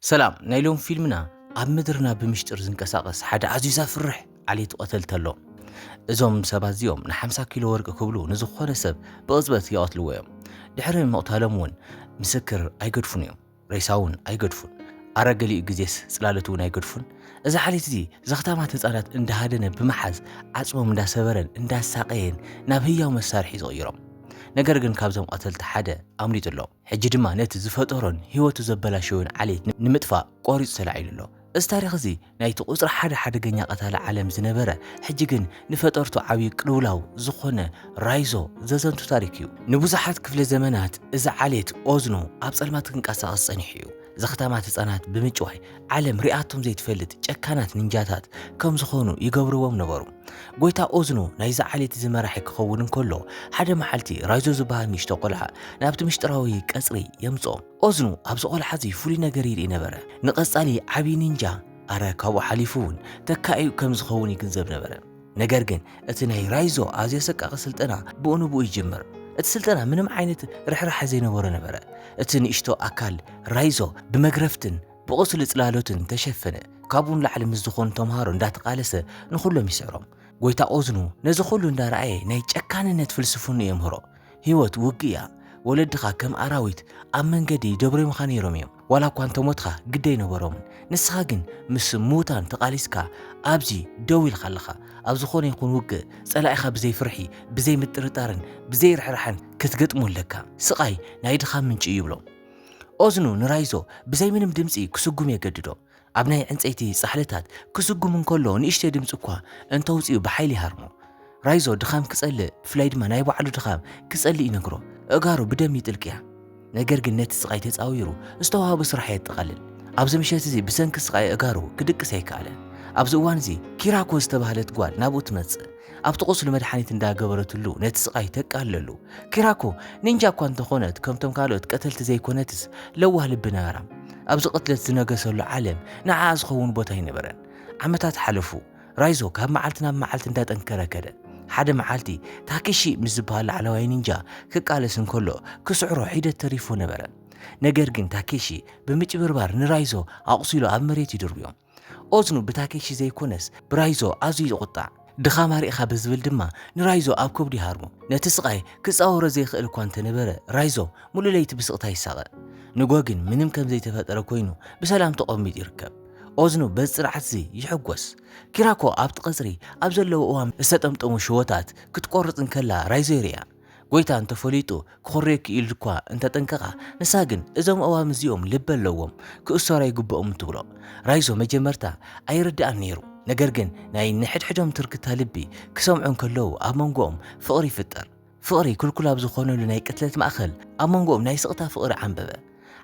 ሰላም ናይ ሎም ፊልምና ኣብ ምድርና ብምሽጥር ዝንቀሳቐስ ሓደ ኣዝዩ ዘፍርሕ ዓሌት ቐተልቲ ኣሎ። እዞም ሰባት እዚኦም ንሓምሳ ኪሎ ወርቂ ክብሉ ንዝኾነ ሰብ ብቕጽበት ይቐትልዎ እዮም። ድሕሪ ምቕታሎም እውን ምስክር ኣይገድፉን እዮም። ሬሳ እውን ኣይገድፉን። ኣረ ገሊኡ ግዜስ ጽላሎት እውን ኣይገድፉን። እዚ ዓሌት እዚ ዘኽታማት ህጻናት እንዳሃደነ ብምሓዝ ዓጽሞም እንዳሰበረን እንዳሳቐየን ናብ ህያው መሳርሒ ዝቕይሮም። ነገር ግን ካብዞም ቐተልቲ ሓደ ኣምሊጡ ኣሎ። ሕጂ ድማ ነቲ ዝፈጠሮን ህይወቱ ዘበላሸወን ዓሌት ንምጥፋእ ቆሪጹ ተላዒሉ ኣሎ። እዚ ታሪኽ እዚ ናይቲ ቁጽሪ ሓደ ሓደገኛ ቀታሊ ዓለም ዝነበረ ሕጂ ግን ንፈጠርቱ ዓብዩ ቅልውላው ዝኾነ ራይዞ ዘዘንቱ ታሪኽ እዩ። ንብዙሓት ክፍለ ዘመናት እዚ ዓሌት ኦዝኖ ኣብ ጸልማት ክንቀሳቐስ ጸኒሑ እዩ። ዘኽታማት ህጻናት ብምጭዋይ ዓለም ሪኣቶም ዘይትፈልጥ ጨካናት ንንጃታት ከም ዝኾኑ ይገብርዎም ነበሩ። ጎይታ ኦዝኖ ናይዚ ዓሌት እዚ መራሒ ክኸውን እንከሎ ሓደ መዓልቲ ራይዞ ዝበሃል ንእሽቶ ቆልዓ ናብቲ ምሽጥራዊ ቀጽሪ የምጽኦ። ኦዝኖ ኣብዚ ቆልዓ እዚ ፍሉይ ነገር ይርኢ ነበረ። ንቐጻሊ ዓቢ ንንጃ ኣረ ካብኡ ሓሊፉ እውን ተካኢኡ ከም ዝኸውን ይግንዘብ ነበረ። ነገር ግን እቲ ናይ ራይዞ ኣዝዮ ኣሰቃቂ ስልጠና ብኡ ንብኡ ይጅምር። እቲ ስልጠና ምንም ዓይነት ርሕራሐ ዘይነበሮ ነበረ። እቲ ንእሽቶ ኣካል ራይዞ ብመግረፍትን ብቑስሊ ጽላሎትን ተሸፈነ። ካብኡ ንላዕሊ ምስ ዝኾኑ ተምሃሮ እንዳተቃለሰ ንኹሎም ይስዕሮም። ጎይታ ኦዝኑ ነዚ ኩሉ እንዳረኣየ ናይ ጨካንነት ፍልስፍንኡ የምህሮ። ሂወት ውግእ እያ ወለድኻ ከም ኣራዊት ኣብ መንገዲ ይደብርዮምኻ ነይሮም እዮም ዋላ እኳ እንተሞትኻ ግዲ ኣይነበሮምን ንስኻ ግን ምስ ምዉታን ተቓሊስካ ኣብዚ ደው ኢልካ ኣለኻ ኣብ ዝኾነ ይኹን ውግእ ጸላኢኻ ብዘይ ፍርሒ ብዘይ ምጥርጣርን ብዘይ ርሕራሕን ክትገጥሞ ኣለካ ስቓይ ናይ ድኻም ምንጪ እዩ ይብሎ ኦዝኑ ንራይዞ ብዘይ ምንም ድምጺ ክስጉም የገድዶ ኣብ ናይ ዕንጸይቲ ጻሕልታት ክስጉም እንከሎ ንእሽተይ ድምጺ እኳ እንተውጽኡ ብሓይሊ ይሃርሞ። ራይዞ ድኻም ክጸልእ ብፍላይ ድማ ናይ ባዕሉ ድኻም ክጸልእ ይነግሮ። ኣእጋሩ ብደም ይጥልቅያ። ነገር ግን ነቲ ስቓይ ተጻዊሩ ዝተዋህቦ ስራሕ የጠቓልል። ኣብዚ ምሸት እዚ ብሰንኪ ስቓይ ኣእጋሩ ክድቅስ ኣይከኣለን። ኣብዚ እዋን እዚ ኪራኮ ዝተባህለት ጓል ናብኡ ትመጽእ። ኣብቲ ቁስሉ መድሓኒት እንዳገበረትሉ ነቲ ስቓይ ተቃልለሉ። ኪራኮ ኒንጃ እኳ እንተኾነት ከምቶም ካልኦት ቀተልቲ ዘይኮነትስ ለዋህ ልቢ ነበራ። ኣብዚ ቅትለት ዝነገሰሉ ዓለም ንዓኣ ዝኸውን ቦታ ኣይነበረን። ዓመታት ሓለፉ። ራይዞ ካብ መዓልቲ ናብ መዓልቲ እንዳጠንከረ ከደ። ሓደ መዓልቲ ታኪሺ ምስ ዝበሃል ላዕለዋይ ኒንጃ ክቃለስ እንከሎ ክስዕሮ ሒደት ተሪፉ ነበረ። ነገር ግን ታኬሺ ብምጭብርባር ንራይዞ ኣቑሲሉ ኣብ መሬት ይድርብዮ። ኦዝኑ ብታኬሺ ዘይኮነስ ብራይዞ ኣዝዩ ይቝጣዕ። ድኻም ኣርኢኻ ብዝብል ድማ ንራይዞ ኣብ ከብዱ ይሃርሞ። ነቲ ስቓይ ክጻወሮ ዘይክእል እኳ እንተ ነበረ፣ ራይዞ ምሉእ ለይቲ ብስቕታ ይሳቐ። ንግሆ ግን ምንም ከም ዘይተፈጠረ ኰይኑ ብሰላም ተቖሚጡ ይርከብ። ኦዝኑ በዚ ጽንዓት'ዚ ይሕጐስ። ኪራኮ ኣብቲ ቀጽሪ ኣብ ዘለዎ እዋን ዝተጠምጠሙ ሽቦታት ክትቈርጽ እንከላ ራይዞ ይርእያ። ጐይታ እንተ ፈሊጡ ክዅርየኪ ኢሉ እኳ እንተ ጠንቀቓ፣ ንሳ ግን እዞም ኣእዋም እዚኦም ልቢ ኣለዎም፣ ክእሰሩ ኣይግብኦምን ትብሎ። ራይዞ መጀመርታ ኣይርድኣን ነይሩ፣ ነገር ግን ናይ ንሕድሕዶም ትርክታ ልቢ ክሰምዑ እንከለዉ ኣብ መንጎኦም ፍቕሪ ይፍጠር። ፍቕሪ ክልኩል ኣብ ዝዀነሉ ናይ ቅትለት ማእከል ኣብ መንጎኦም ናይ ስቕታ ፍቕሪ ዓምበበ።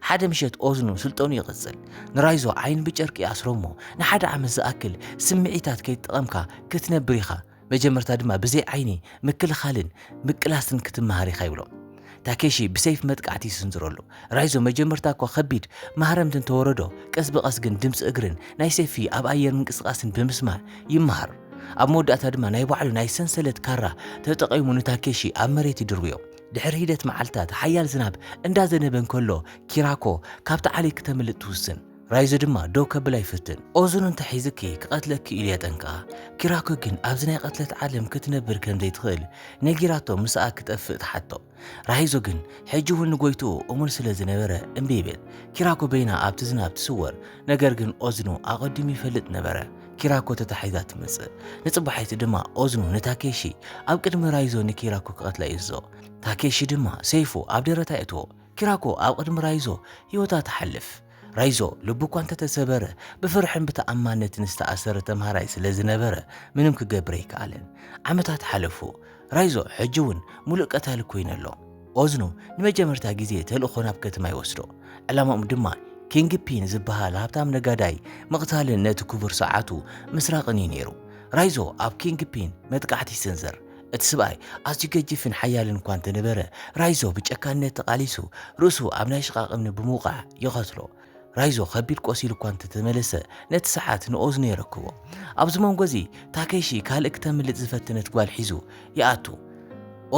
ሓደ ምሸት ኦዝኑ ስልጠኑ ይቕጽል። ንራይዞ ዓይኑ ብጨርቂ ይኣስሮ'ሞ ንሓደ ዓመት ዝኣክል ስምዒታት ከይተጠቐምካ ክትነብር ኢኻ፣ መጀመርታ ድማ ብዘይ ዓይኒ ምክልኻልን ምቅላስን ክትመሃር ኢኻ ይብሎ። ታኬሺ ብሰይፍ መጥቃዕቲ ይስንዝረሉ። ራይዞ መጀመርታ እኳ ከቢድ ማህረምቲ እንተወረዶ፣ ቀስ ብቐስ ግን ድምጺ እግርን ናይ ሰይፊ ኣብ ኣየር ምንቅስቓስን ብምስማዕ ይመሃር። ኣብ መወዳእታ ድማ ናይ ባዕሉ ናይ ሰንሰለት ካራ ተጠቒሙ ንታኬሺ ኣብ መሬት ይድርብዮ። ድሕሪ ሒደት መዓልታት ሓያል ዝናብ እንዳዘነበ እንከሎ ኪራኮ ካብቲ ዓሌት ክተምልጥ ትውስን። ራይዞ ድማ ደው ከብላ ይፍትን። ኦዙን እንተ ሒዝኪ ክቐትለኪ ኢሉ የጠንቅቓ። ኪራኮ ግን ኣብዚ ናይ ቕትለት ዓለም ክትነብር ከም ዘይትኽእል ነጊራቶ ምስኣ ክጠፍእ ትሓቶ። ራይዞ ግን ሕጂ እውን ንጎይትኡ እሙን ስለ ዝነበረ እምቢ ይብል። ኪራኮ በይና ኣብቲ ዝናብ ትስወር። ነገር ግን ኦዝኑ ኣቐዲሙ ይፈልጥ ነበረ። ኪራኮ ተታሒዛ ትመጽእ። ንጽባሒቱ ድማ ኦዝኑ ንታኬሺ ኣብ ቅድሚ ራይዞ ንኪራኮ ክቐትላ ይእዝዞ። ታኬሺ ድማ ሰይፉ ኣብ ደረታ የእትዎ። ኪራኮ ኣብ ቕድሚ ራይዞ ህይወታ ትሓልፍ። ራይዞ ልቡ እኳ እንተተሰበረ ብፍርሕን ብተኣማንነትን ዝተኣሰረ ተምሃራይ ስለ ዝነበረ ምንም ክገብር ኣይከኣለን። ዓመታት ሓለፉ። ራይዞ ሕጂ እውን ምሉእ ቀታሊ ኮይኑ ኣሎ። ኦዝኑ ንመጀመርታ ግዜ ተልእኾ ናብ ከተማ ይወስዶ። ዕላማኦም ድማ ኪንግ ፒን ዝበሃል ሃብታም ነጋዳይ ምቕታልን ነቲ ክቡር ሰዓቱ ምስራቕን እዩ ነይሩ። ራይዞ ኣብ ኪንግ ፒን መጥቃዕቲ ይስንዝር። እቲ ስብኣይ ኣዝዩ ገጂፍን ሓያልን እኳ እንተነበረ ራይዞ ብጨካንነት ተቓሊሱ ርእሱ ኣብ ናይ ሽቓቕ እምኒ ብምውቃዕ ይቐትሎ። ራይዞ ከቢድ ቆሲሉ እኳ እንተተመለሰ ነቲ ሰዓት ንኦዝኖ የረክቦ። ኣብዚ መንጎ እዚ ታኬሺ ካልእ ክተምልጥ ዝፈተነት ጓል ሒዙ ይኣቱ።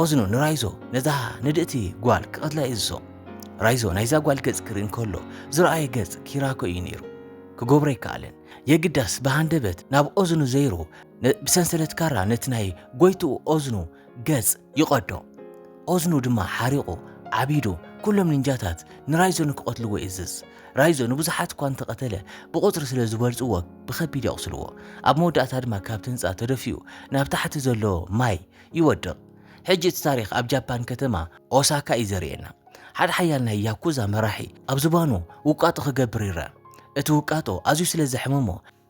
ኦዝኖ ንራይዞ ነዛ ንድእቲ ጓል ክቐትላ ይእዝዞ። ራይዞ ናይዛ ጓል ገጽ ክርኢ እንከሎ ዝረኣየ ገጽ ኪራኮ እዩ ነይሩ። ክገብሮ ኣይከኣለን። የግዳስ ብሃንደበት ናብ ኦዝኑ ዘይሩ ብሰንሰለት ካራ ነቲ ናይ ጎይትኡ ኦዝኑ ገጽ ይቐዶ። ኦዝኑ ድማ ሓሪቑ ዓቢዱ ኩሎም ንንጃታት ንራይዞኑ ክቐትልዎ ይእዝዝ። ራይዞኑ ብዙሓት እኳ እንተቐተለ ብቑጽሪ ስለ ዝበልጽዎ ብኸቢድ የቑስልዎ። ኣብ መወዳእታ ድማ ካብቲ ህንጻ ተደፊኡ ናብ ታሕቲ ዘሎ ማይ ይወድቕ። ሕጂ እቲ ታሪኽ ኣብ ጃፓን ከተማ ኦሳካ እዩ ዘርእየና። ሓደ ሓያል ናይ ያኩዛ መራሒ ኣብ ዝባኑ ውቃጦ ክገብር ይርኣ። እቲ ውቃጦ ኣዝዩ ስለ ዘሕምሞ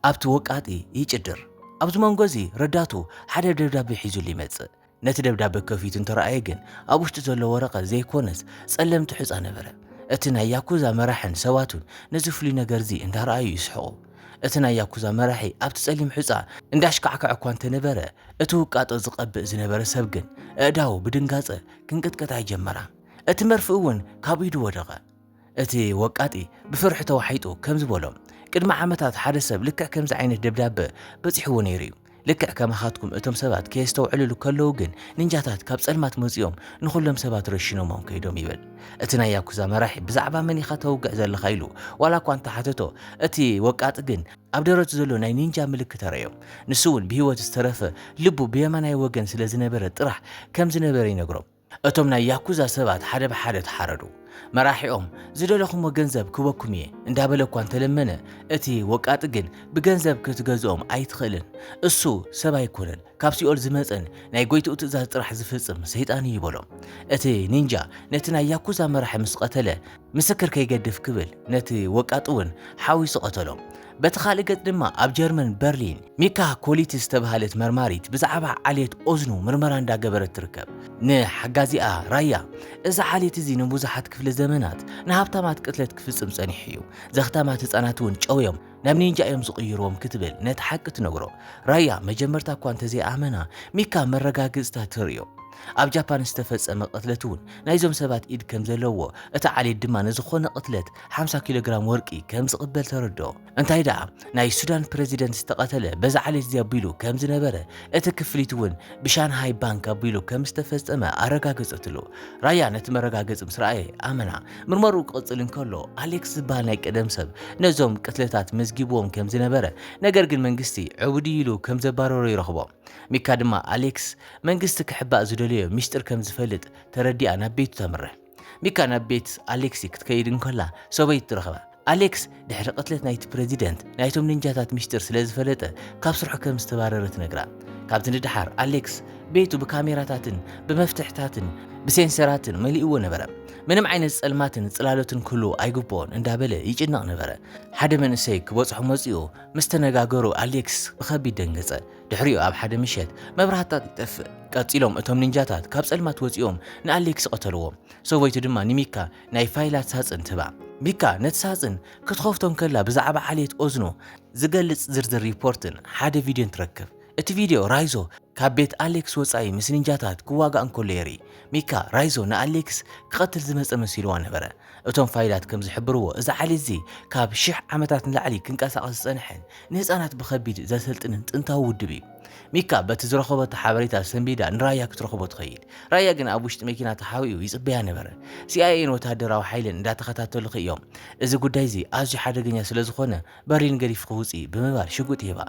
ኣብቲ ወቃጢ ይጭድር። ኣብዚ መንጎ እዚ ረዳቱ ሓደ ደብዳበ ሒዙሉ ይመጽእ። ነቲ ደብዳበ ከፊቱ እንተረኣየ ግን ኣብ ውሽጢ ዘሎ ወረቐት ዘይኰነስ ጸለምቲ ሑጻ ነበረ። እቲ ናይ ያኩዛ መራሕን ሰባቱን ነዚ ፍሉይ ነገር እዚ እንዳረኣዩ ይስሕቑ። እቲ ናይ ያኩዛ መራሒ ኣብቲ ጸሊም ሑጻ እንዳሽካዕከዐ እኳ እንተነበረ እቲ ውቃጦ ዝቐብእ ዝነበረ ሰብ ግን ኣእዳዉ ብድንጋጸ ክንቅጥቅጣ ይጀመራ። እቲ መርፍእ እውን ካብ ኢዱ ወደቐ። እቲ ወቃጢ ብፍርሒ ተዋሒጡ ከምዚ በሎም፣ ቅድሚ ዓመታት ሓደ ሰብ ልክዕ ከምዚ ዓይነት ደብዳበ በጺሕዎ ነይሩ እዩ። ልክዕ ከማኻትኩም እቶም ሰባት ከየስተውዕልሉ ከለዉ ግን ኒንጃታት ካብ ጸልማት መጺኦም ንኹሎም ሰባት ረሺኖሞም ከይዶም ይብል። እቲ ናይ ያኩዛ መራሒ ብዛዕባ መን ኢኻ ተውግዕ ዘለኻ ኢሉ ዋላ እኳ እንተሓተቶ እቲ ወቃጢ ግን ኣብ ደረቱ ዘሎ ናይ ኒንጃ ምልክት ኣረዮ። ንሱ እውን ብህይወት ዝተረፈ ልቡ ብየማናይ ወገን ስለ ዝነበረ ጥራሕ ከም ዝነበረ ይነግሮም። እቶም ናይ ያኩዛ ሰባት ሓደ ብሓደ ተሓረዱ። መራሒኦም ዝደለኹሞ ገንዘብ ክበኩም እየ እንዳበለ እኳ እንተለመነ እቲ ወቃጢ ግን ብገንዘብ ክትገዝኦም ኣይትኽእልን እሱ ሰብ ኣይኮነን ካብ ሲኦል ዝመፀን ናይ ጎይትኡ ትእዛዝ ጥራሕ ዝፍፅም ሰይጣን እዩ በሎም። እቲ ኒንጃ ነቲ ናይ ያኩዛ መራሒ ምስ ቐተለ ምስክር ከይገድፍ ክብል ነቲ ወቃጢ እውን ሓዊሱ ቀተሎ። በቲ ካልእ ገጽ ድማ ኣብ ጀርመን በርሊን ሚካ ኮሊትስ ዝተብሃለት መርማሪት ብዛዕባ ዓሌት ኦዝኑ ምርመራ እንዳገበረት ትርከብ። ንሓጋዚኣ ራያ እዚ ዓሌት እዚ ንብዙሓት ክፍለ ዘመናት ንሃብታማት ቅትለት ክፍጽም ጸኒሑ እዩ። ዘኽታማት ህጻናት እውን ጨውዮም ናብ ኒንጃ እዮም ዝቕይርዎም ክትብል ነቲ ሓቂ ትነግሮ። ራያ መጀመርታ እኳ እንተዘይኣመና ሚካ መረጋግጽታ ተርእዮ። ኣብ ጃፓን ዝተፈጸመ ቅትለት እውን ናይዞም ሰባት ኢድ ከም ዘለዎ፣ እቲ ዓሌት ድማ ንዝኾነ ቅትለት ሓምሳ ኪሎግራም ወርቂ ከም ዝቕበል ተረድኦ። እንታይ ደኣ ናይ ሱዳን ፕረዚደንት ዝተቐተለ በዚ ዓሌት እዚ ኣቢሉ ከም ዝነበረ፣ እቲ ክፍሊት እውን ብሻንሃይ ባንክ ኣቢሉ ከም ዝተፈጸመ ኣረጋገጸትሉ። ራያ ነቲ መረጋገጺ ምስ ረኣየ ኣመና። ምርመርኡ ክቕጽል እንከሎ ኣሌክስ ዝበሃል ናይ ቀደም ሰብ ነዞም ቅትለታት መዝጊብዎም ከም ዝነበረ ነገር ግን መንግስቲ ዕቡድ እዩ ኢሉ ከም ዘባረሮ ይረኽቦ። ሚካ ድማ ኣሌክስ መንግስቲ ክሕባእ ዝደለዮ ሚስጢር ከም ዝፈልጥ ተረዲኣ ናብ ቤቱ ተምርሕ። ሚካ ናብ ቤት ኣሌክሲ ክትከይድ እንከላ ሰበይቱ ትረኽባ። ኣሌክስ ድሕሪ ቅትለት ናይቲ ፕረዚደንት ናይቶም ኒንጃታት ሚስጢር ስለ ዝፈለጠ ካብ ስርሑ ከም ዝተባረረ ትነግራ። ካብቲ ንደሓር ኣሌክስ ቤቱ ብካሜራታትን ብመፍትሕታትን ብሴንሰራትን መሊእዎ ነበረ። ምንም ዓይነት ጸልማትን ጽላለትን ክህልዎ ኣይግብኦን እንዳበለ ይጭነቕ ነበረ። ሓደ መንእሰይ ክበጽሖ መጺኡ ምስ ተነጋገሩ ኣሌክስ ብኸቢድ ደንገጸ። ድሕሪኡ ኣብ ሓደ ምሸት መብራህትታት ይጠፍእ። ቀጺሎም እቶም ኒንጃታት ካብ ጸልማት ወጺኦም ንኣሌክስ ቐተልዎ። ሰበይቱ ድማ ንሚካ ናይ ፋይላት ሳጽን ትህባ። ሚካ ነቲ ሳጽን ክትኸፍቶ እንከላ ብዛዕባ ዓሌት ኦዝኖ ዝገልጽ ዝርዝር ሪፖርትን ሓደ ቪድዮን ትረክብ። እቲ ቪድዮ ራይዞ ካብ ቤት ኣሌክስ ወጻኢ ምስ ኒንጃታት ክዋጋእ እንከሎ የርኢ። ሚካ፣ ራይዞ ንኣሌክስ ክቐትል ዝመጸ መሲልዋ ነበረ። እቶም ፋይላት ከም ዝሕብርዎ እዚ ዓሌት እዚ ካብ ሽሕ ዓመታት ንላዕሊ ክንቀሳቐስ ዝጸንሐን ንህጻናት ብኸቢድ ዘሰልጥንን ጥንታዊ ውድብ እዩ። ሚካ በቲ ዝረኸበቶ ሓበሬታ ሰንቢዳ ንራያ ክትረኽቦ ትኸይድ። ራያ ግን ኣብ ውሽጢ መኪና ተሓቢኡ ይጽበያ ነበረ። ሲኣይኤን ወተሃደራዊ ሓይልን እንዳተኸታተሉኺ እዮም። እዚ ጉዳይ'ዚ ኣዝዩ ሓደገኛ ስለ ዝኾነ በርሊን ገዲፍኺ ውጺ ብምባል ሽጉጥ ሂባ።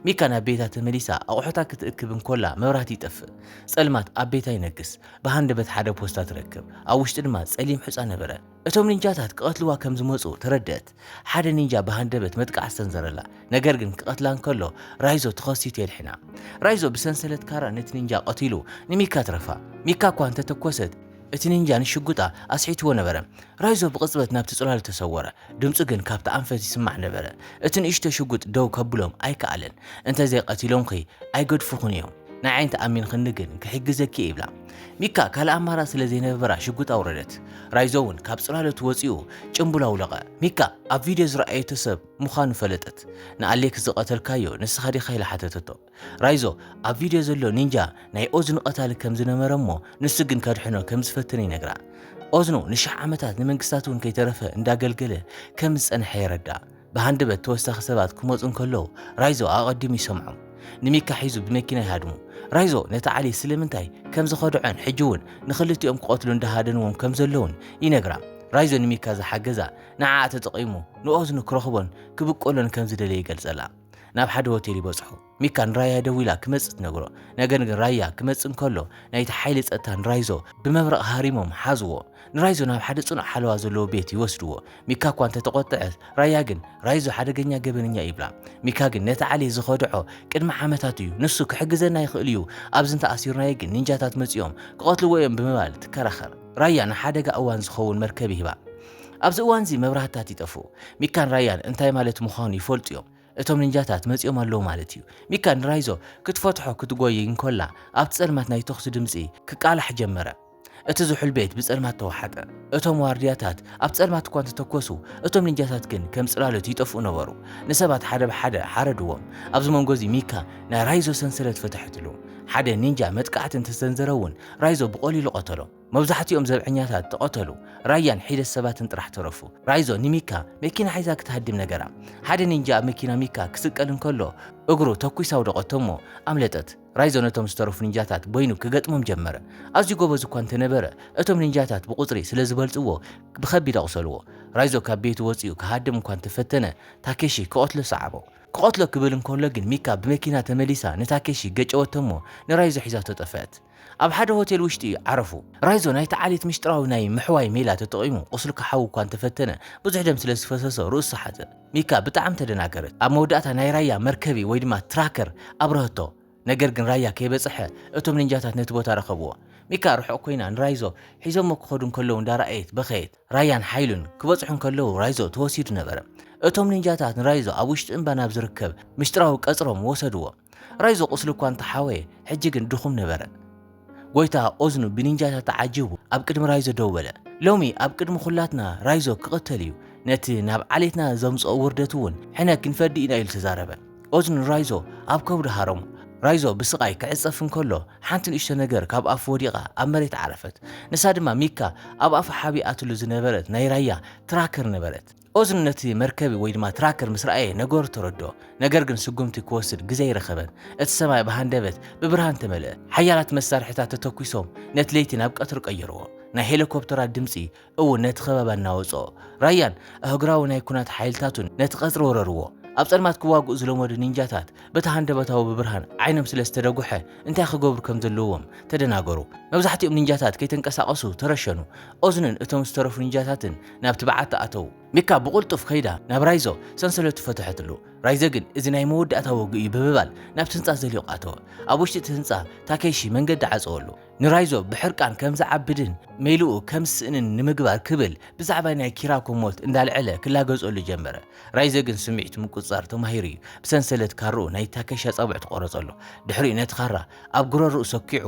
ሚካ ናብ ቤታ ተመሊሳ ኣቑሑታ ክትእክብ እንኮላ መብራህቲ ይጠፍእ። ጸልማት ኣብ ቤታ ይነግስ። ብሃንደበት ሓደ ፖስታ ትረክብ። ኣብ ውሽጡ ድማ ጸሊም ሑጻ ነበረ። እቶም ኒንጃታት ክቐትልዋ ከም ዝመጹ ተረድእት። ሓደ ኒንጃ ብሃንደበት መጥቃዕቲ ሰንዘረላ፣ ነገር ግን ክቐትላ እንከሎ ራይዞ ተኸሲቱ የድሕና። ራይዞ ብሰንሰለት ካራ ነቲ ኒንጃ ቀቲሉ ንሚካ ኣትረፋ። ሚካ እኳ እንተ ተኰሰት፣ እቲ ኒንጃ ንሽጉጣ ኣስሒትዎ ነበረ። ራይዞ ብቕጽበት ናብቲ ጽላሉ ተሰወረ፣ ድምጹ ግን ካብቲ ኣንፈት ይስማዕ ነበረ። እቲ ንእሽቶ ሽጉጥ ደው ከብሎም ኣይከኣለን። እንተ ዘይቐቲሎምኪ ኣይገድፉኹን እዮም። ንዓይ እንተ ኣሚንክኒ ግን ክሕግዘኪ'የ ይብላ። ሚካ ካልእ ኣማራጺ ስለ ዘይነበራ ሽጉጥ ኣውረደት። ራይዞ'ውን ካብ ጽላሎት ወጺኡ ጭምቡል ኣውለቐ። ሚካ ኣብ ቪድዮ ዝረኣየቶ ሰብ ምዃኑ ፈለጠት። ንኣሌክስ ዝቐተልካዮ ንስኻ ዲኻ ኢላ ሓተተቶ። ራይዞ ኣብ ቪድዮ ዘሎ ኒንጃ ናይ ኦዝኑ ቀታሊ ከም ዝነበረ'ሞ ንሱ ግን ከድሕኖ ከም ዝፈተነ ይነግራ። ኦዝኑ ንሽሕ ዓመታት ንመንግስታት'ውን ከይተረፈ እንዳገልገለ ከም ዝጸንሐ የረድኣ። ብሃንደበት ተወሳኺ ሰባት ክመጹ እንከለዉ ራይዞ ኣቐዲሙ ይሰምዖም። ንሚካ ሒዙ ብመኪና ይሃድሙ። ራይዞ ነቲ ዓሊ ስለምንታይ ከም ዝኸድዖን ሕጂ'ውን ንኽልቲኦም ክቐትሉ እንዳሃደንዎም ከም ዘለዉን ይነግራ። ራይዞ ንሚካ ዝሓገዛ ንዓኣ ተጠቒሙ ንኦዝኑ ክረኽቦን ክብቀሎን ከም ዝደለየ ይገልጸላ። ናብ ሓደ ሆቴል ይበጽሑ። ሚካ ንራያ ደዊላ ክመጽእ ትነግሮ። ነገር ግን ራያ ክመጽእ እንከሎ ናይቲ ሓይሊ ጸጥታ ንራይዞ ብመብረቕ ሃሪሞም ሓዝዎ። ንራይዞ ናብ ሓደ ጽኑዕ ሓለዋ ዘለዎ ቤት ይወስድዎ። ሚካ እኳ እንተተቖጥዐ ራያ ግን ራይዞ ሓደገኛ ገበነኛ ይብላ። ሚካ ግን ነቲ ዓሌት ዝኸድዖ ቅድሚ ዓመታት እዩ። ንሱ ክሕግዘና ይኽእል እዩ፣ ኣብዚ እንተኣሲርናዮ ግን ኒንጃታት መጺኦም ክቐትልዎ እዮም ብምባል ትከራኸር። ራያ ንሓደጋ እዋን ዝኸውን መርከብ ይህባ። ኣብዚ እዋንዚ መብራህትታት ይጠፍኡ። ሚካን ራያን እንታይ ማለት ምዃኑ ይፈልጡ እዮም። እቶም ንንጃታት መጺኦም ኣለዉ ማለት ኢዩ። ሚካ ንራይዞ ክትፈትሖ ክትጎዪ እንኮላ ኣብቲ ጸልማት ናይ ተኹሲ ድምጺ ክቃላሕ ጀመረ። እቲ ዝሑል ቤት ብጸልማት ተዋሓጠ። እቶም ዋርድያታት ኣብ ጸልማት እኳ እንተተኮሱ እቶም ንንጃታት ግን ከም ጽላሎት ይጠፍኡ ነበሩ። ንሰባት ሓደ ብሓደ ሓረድዎም። ኣብዚ መንጎ እዚ ሚካ ናይ ራይዞ ሰንሰለት ፈተሐትሉ። ሓደ ንንጃ መጥቃዕቲ እንተሰንዘረ እውን ራይዞ ብቐሊሉ ቀተሎ። መብዛሕቲኦም ዘብዐኛታት ተቐተሉ፣ ራያን ሒደት ሰባትን ጥራሕ ተረፉ። ራይዞ ንሚካ መኪና ሒዛ ክትሃድም ነገራ። ሓደ ኒንጃ ኣብ መኪና ሚካ ክስቀል እንከሎ እግሩ ተኲሳ ኣውደቐቶ'ሞ ኣምለጠት። ራይዞ ነቶም ዝተረፉ ኒንጃታት በይኑ ክገጥሞም ጀመረ። ኣዝዩ ጎበዝ እኳ እንተነበረ፣ እቶም ኒንጃታት ብቑጽሪ ስለ ዝበልጽዎ ብኸቢድ ኣቑሰልዎ። ራይዞ ካብ ቤቱ ወጺኡ ክሃድም እኳ እንተፈተነ፣ ታኬሺ ክቐትሎ ሰዓቦ። ክቐትሎ ክብል እንከሎ ግን ሚካ ብመኪና ተመሊሳ ንታኬሺ ገጨወቶ'ሞ ንራይዞ ሒዛቶ ጠፍአት። ኣብ ሓደ ሆቴል ውሽጢ ዓረፉ። ራይዞ ናይቲ ዓሌት ምስጢራዊ ናይ ምሕዋይ ሜላ ተጠቒሙ ቁስሊ ክሓዊ እኳ እንተፈተነ፣ ብዙሕ ደም ስለ ዝፈሰሶ ርእሱ ሰሓተ። ሚካ ብጣዕሚ ተደናገረት። ኣብ መወዳእታ ናይ ራያ መርከቢ ወይ ድማ ትራከር ኣብረሀቶ። ነገር ግን ራያ ከይበጸሐ እቶም ኒንጃታት ነቲ ቦታ ረኸብዎ። ሚካ ርሑቕ ኮይና ንራይዞ ሒዞሞ ክኸዱ እንከለዉ እንዳረኣየት በኸየት። ራያን ሓይሉን ክበጽሑ እንከለዉ ራይዞ ተወሲዱ ነበረ። እቶም ኒንጃታት ንራይዞ ኣብ ውሽጢ እምባ ናብ ዝርከብ ምስጢራዊ ቀጽሮም ወሰድዎ። ራይዞ ቁስሊ እኳ እንተ ሓወየ ሕጂ ግን ድኹም ነበረ። ጎይታ ኦዝኑ ብኒንጃታት ተዓጂቡ ኣብ ቅድሚ ራይዞ ደው በለ። ሎሚ ኣብ ቅድሚ ኩላትና ራይዞ ክቕተል እዩ፣ ነቲ ናብ ዓሌትና ዘምጽኦ ውርደት እውን ሕነ ክንፈዲ ኢና ኢሉ ተዛረበ። ኦዝኑ ንራይዞ ኣብ ከብዱ ሃረሞ። ራይዞ ብስቓይ ክዕጸፍ እንከሎ ሓንቲ ንእሽቶ ነገር ካብ ኣፉ ወዲቓ ኣብ መሬት ዓረፈት። ንሳ ድማ ሚካ ኣብ ኣፉ ሓቢኣትሉ ዝነበረት ናይ ራያ ትራከር ነበረት። ኦዝን ነቲ መርከቢ ወይ ድማ ትራከር ምስ ረኣየ ነገሩ ተረድኦ፣ ነገር ግን ስጉምቲ ክወስድ ግዜ ኣይረኸበን። እቲ ሰማይ ብሃንደበት ብብርሃን ተመልአ። ሓያላት መሳርሒታት ተተኲሶም ነቲ ለይቲ ናብ ቀትሪ ቀየርዎ። ናይ ሄሊኮፕተራት ድምጺ እውን ነቲ ከባቢ ኣናወጾ። ራያን ኣህጉራዊ ናይ ኲናት ሓይልታቱን ነቲ ቀጽሪ ወረርዎ። ኣብ ጸልማት ክዋግኡ ዝለመዱ ኒንጃታት በቲ ሃንደበታዊ ብብርሃን ዓይኖም ስለ ዝተደጉሐ እንታይ ክገብሩ ከም ዘለዎም ተደናገሩ። መብዛሕትኦም ኒንጃታት ከይተንቀሳቐሱ ተረሸኑ። ኦዝንን እቶም ዝተረፉ ኒንጃታትን ናብቲ በዓቲ ኣተዉ። ሚካ ብቕልጡፍ ከይዳ ናብ ራይዞ ሰንሰለቱ ፈተሐትሉ። ራይዘ ግን እዚ ናይ መወዳእታ ወግእ እዩ ብምባል ናብቲ ህንጻ ዘሊቑ ኣተወ። ኣብ ውሽጢ እቲ ህንጻ ታኬሺ መንገዲ ዓጸወሉ። ንራይዞ ብሕርቃን ከም ዝዓብድን ሜላኡ ከም ዝስእንን ንምግባር ክብል ብዛዕባ ናይ ኪራኮ ሞት እንዳልዐለ ክላገጸሉ ጀመረ። ራይዘ ግን ስምዒቱ ምቁጽጻር ተማሂሩ እዩ። ብሰንሰለት ካርኡ ናይ ታኬሺ ኣጻብዕቱ ቆረጸሉ። ድሕሪኡ ነቲ ካራ ኣብ ጉረርኡ ሰኪዑ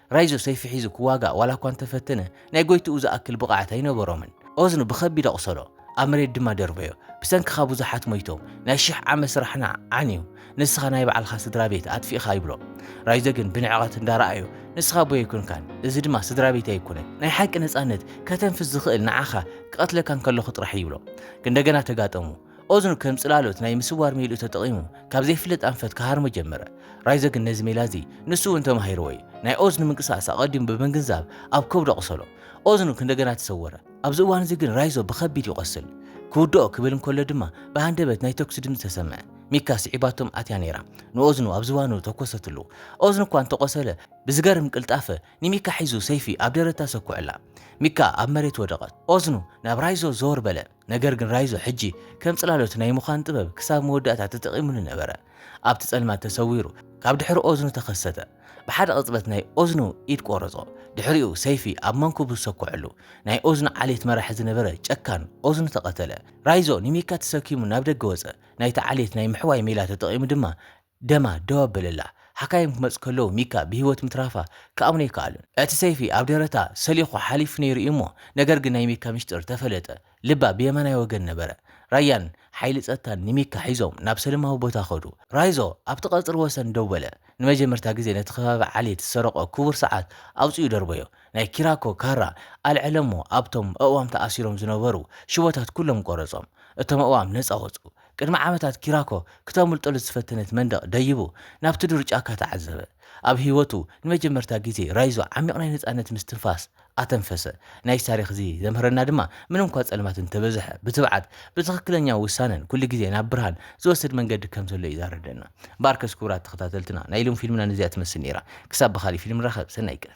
ራይዞ ሰይፊ ሒዙ ክዋጋእ ዋላ እኳ እንተፈተነ፣ ናይ ጎይትኡ ዝኣክል ብቐዓት ኣይነበሮምን። ኦዝኑ ብኸቢድ ኣቑሰሎ፣ ኣብ መሬት ድማ ደርበዮ። ብሰንክኻ ብዙሓት ሞይቶም፣ ናይ ሽሕ ዓመት ስራሕና ዓንዩ፣ ንስኻ ናይ ባዕልኻ ስድራ ቤት ኣጥፊእኻ ይብሎ። ራይዞ ግን ብንዕቐት እንዳረኣዮ፣ ንስኻ ኣቦይ ኣይኮንካን፣ እዚ ድማ ስድራ ቤተይ ኣይኮነን። ናይ ሓቂ ነጻነት ከተንፍስ ዝኽእል ንዓኻ ክቐትለካ እንከለኹ ጥራሕ እዩ ይብሎ። ክንደገና ተጋጠሙ። ኦዝኑ ከም ጽላሎት ናይ ምስዋር ሜልኡ ተጠቒሙ ካብ ዘይፍለጥ ኣንፈት ክሃርሞ ጀመረ። ራይዘ ግን ነዚ ሜላ እዚ ንሱ እውን ተማሂርዎ እዩ። ናይ ኦዝኑ ምንቅስቓስ ኣቐዲሙ ብምግንዛብ ኣብ ከብዱ ኣቑሰሎ። ኦዝኑ ክንደገና ተሰወረ። ኣብዚ እዋን እዚ ግን ራይዞ ብኸቢድ ይቖስል። ክውድኦ ክብል እንከሎ ድማ ብሃንደበት ናይ ተኩሲ ድምጺ ተሰምዐ። ሚካ ስዒባቶም ኣትያ ነይራ። ንኦዝኑ ኣብ ዝባኑ ተኮሰትሉ። ኦዝኑ እኳ እንተቖሰለ ብዝገርም ቅልጣፈ ንሚካ ሒዙ ሰይፊ ኣብ ደረታ ሰኩዐላ። ሚካ ኣብ መሬት ወደቐት። ኦዝኑ ናብ ራይዞ ዘወር በለ። ነገር ግን ራይዞ ሕጂ ከም ጽላሎት ናይ ምዃን ጥበብ ክሳብ መወዳእታ ተጠቒሙሉ ነበረ። ኣብቲ ጸልማት ተሰዊሩ ካብ ድሕሪ ኦዝኑ ተኸሰተ። ብሓደ ቅጽበት ናይ ኦዝኑ ኢድ ቆረጾ። ድሕሪኡ ሰይፊ ኣብ መንኩቡ ዝሰኮዐሉ ናይ ኦዝኑ ዓሌት መራሒ ዝነበረ ጨካን ኦዝኑ ተቐተለ። ራይዞ ንሚካ ተሰኪሙ ናብ ደገ ወጸ። ናይቲ ዓሌት ናይ ምሕዋይ ሜላ ተጠቒሙ ድማ ደማ ደው ኣበለላ። ሓካይም ክመጹ ከለዉ ሚካ ብህይወት ምትራፋ ክኣምኑ ኣይከኣሉን። እቲ ሰይፊ ኣብ ደረታ ሰሊኹ ሓሊፉ ነይሩ እዩ እሞ፣ ነገር ግን ናይ ሚካ ሚስጢር ተፈለጠ። ልባ ብየማናይ ወገን ነበረ። ራያን ሓይሊ ጸጥታን ንሚካ ሒዞም ናብ ሰለማዊ ቦታ ከዱ። ራይዞ ኣብቲ ቀጽሪ ወሰን ደው በለ። ንመጀመርታ ግዜ ነቲ ከባቢ ዓሌት ዝሰረቖ ክቡር ሰዓት ኣውጺኡ ደርበዮ። ናይ ኪራኮ ካራ ኣልዐለ'ሞ ኣብቶም ኣእዋም ተኣሲሮም ዝነበሩ ሽቦታት ኩሎም ቆረጾም። እቶም ኣእዋም ነጻ ወጹ። ቅድሚ ዓመታት ኪራኮ ክተምልጠሉ ዝፈተነት መንደቕ ደይቡ ናብቲ ዱር ጫካ ተዓዘበ። ኣብ ህይወቱ ንመጀመርታ ግዜ ራይዞ ዓሚቕ ናይ ነጻነት ምስትንፋስ ኣተንፈሰ። ናይዚ ታሪኽ እዚ ዘምህረና ድማ ምንምኳ ጸልማት እንተበዝሐ ብትብዓት፣ ብትኽክለኛ ውሳነን ኩሉ ግዜ ናብ ብርሃን ዝወስድ መንገዲ ከም ዘሎ እዩ ዛረደና። እምበኣርከስ ክቡራት ተኸታተልትና ናይ ሎሚ ፊልምና ነዚኣ ትመስል ነይራ። ክሳብ ብኻልእ ፊልም ንራኸብ ሰናይ ቀን።